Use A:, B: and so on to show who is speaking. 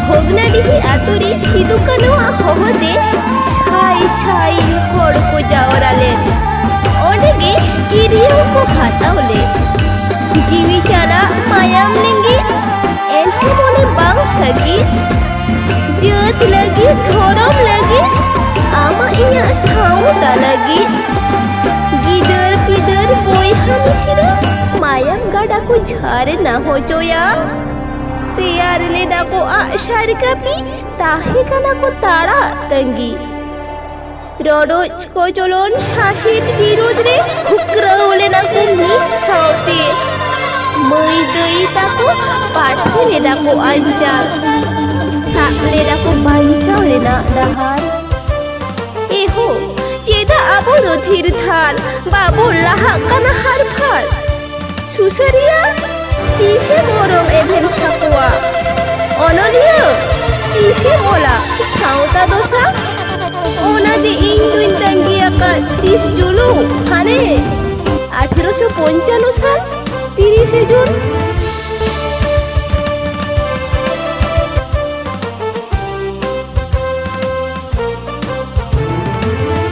A: ᱵᱷᱚᱜᱽᱱᱟᱰᱤᱦᱤ ᱟᱛᱳ ᱨᱮ ᱥᱤᱫᱩ ᱠᱟᱹᱱᱩᱣᱟᱜ ᱦᱚᱦᱚ ᱛᱮ ᱥᱟᱭ ᱥᱟᱭ ᱦᱚᱲ ᱠᱚ ᱡᱟᱣᱨᱟ ᱞᱮᱱ ᱚᱸᱰᱮ ᱜᱮ ᱠᱤᱨᱤᱭᱟᱹ ᱠᱚ ᱦᱟᱛᱟᱣ ᱞᱮᱫ ᱡᱤᱣᱤ ᱪᱟᱨᱟ ᱢᱟᱭᱟᱢ ᱞᱤᱸᱜᱤ ᱮᱱᱦᱚᱸ ᱢᱚᱱᱮ ᱵᱟᱝ ᱥᱟᱹᱜᱤ ᱡᱟᱹᱛ ᱞᱟᱹᱜᱤᱫ ᱫᱷᱚᱨᱚᱢ ᱞᱟᱹᱜᱤᱫ ᱟᱢᱟᱜ ᱤᱧᱟᱹᱜ ᱥᱟᱶᱛᱟ ᱞᱟᱹᱜᱤᱫ ᱜᱤᱫᱟᱹᱨ ᱯᱤᱫᱟᱹᱨ ᱵᱚᱭᱦᱟ ᱢᱤᱥᱤᱨᱟ ᱢᱟᱭᱟᱢ ᱜᱟᱰᱟ ᱠᱚ ᱡᱷᱟᱨᱱᱟ ᱦᱚᱪᱚᱭᱟ ᱛᱮᱭᱟᱨ ᱞᱮᱫᱟ ᱠᱚ ᱟᱜᱼᱥᱟᱨ ᱠᱟᱹᱯᱤ ᱛᱟᱦᱮᱸ ᱠᱟᱱᱟ ᱠᱚ ᱛᱟᱲᱟᱜ ᱛᱟᱺᱜᱤ ᱨᱚᱰᱚᱡ ᱠᱚᱪᱚᱞᱚᱱ ᱥᱟᱥᱮᱛ ᱵᱤᱨᱩᱫᱽ ᱨᱮ ᱠᱷᱩᱠᱨᱟᱹᱣ ᱞᱮᱱᱟ ᱠᱚ ᱢᱤᱫ ᱥᱟᱶᱛᱮ ᱢᱟᱹᱭ ᱫᱟᱹᱭ ᱛᱟᱠᱚ ᱯᱟᱴᱷᱮ ᱞᱮᱫᱟ ᱠᱚ ᱟᱧᱪᱟᱨ ᱥᱟᱵ ᱞᱮᱫᱟ ᱠᱚ ᱵᱟᱧᱪᱟᱣ ᱨᱮᱱᱟᱜ ᱰᱟᱦᱟᱨ ᱮᱦᱳ ᱪᱮᱫᱟᱜ ᱟᱵᱚ ᱫᱚ ᱛᱷᱤᱨ ᱛᱷᱟᱨ ᱵᱟᱵᱚ ᱞᱟᱦᱟᱜ ᱠᱟᱱᱟ ᱦᱟᱨ ᱯᱷᱟᱨ ᱥᱩᱥᱟᱹᱨᱤᱭᱟᱹ ᱛᱤᱥᱮ ᱢᱚᱨᱚᱢ ᱮᱵᱷᱮᱱ ᱥᱟᱠᱚᱣᱟ ᱚᱱᱚᱞᱤᱭᱟᱹ ᱛᱤᱥᱮ ᱚᱞᱟ ᱥᱟᱶᱛᱟ ᱫᱚᱥᱟ ᱚᱱᱟ ᱫᱤ ᱤᱧ ᱫᱩᱧ ᱛᱟᱺᱜᱤ ᱟᱠᱟᱫ ᱛᱤᱥ ᱡᱩᱞᱩ ᱦᱟᱱᱮ ᱟᱴᱷᱮᱨᱚᱥᱚ ᱯᱚᱧᱪᱟᱱᱱᱚ ᱥᱟᱞ ᱛᱤᱨᱤᱥᱮ ᱡᱩᱱ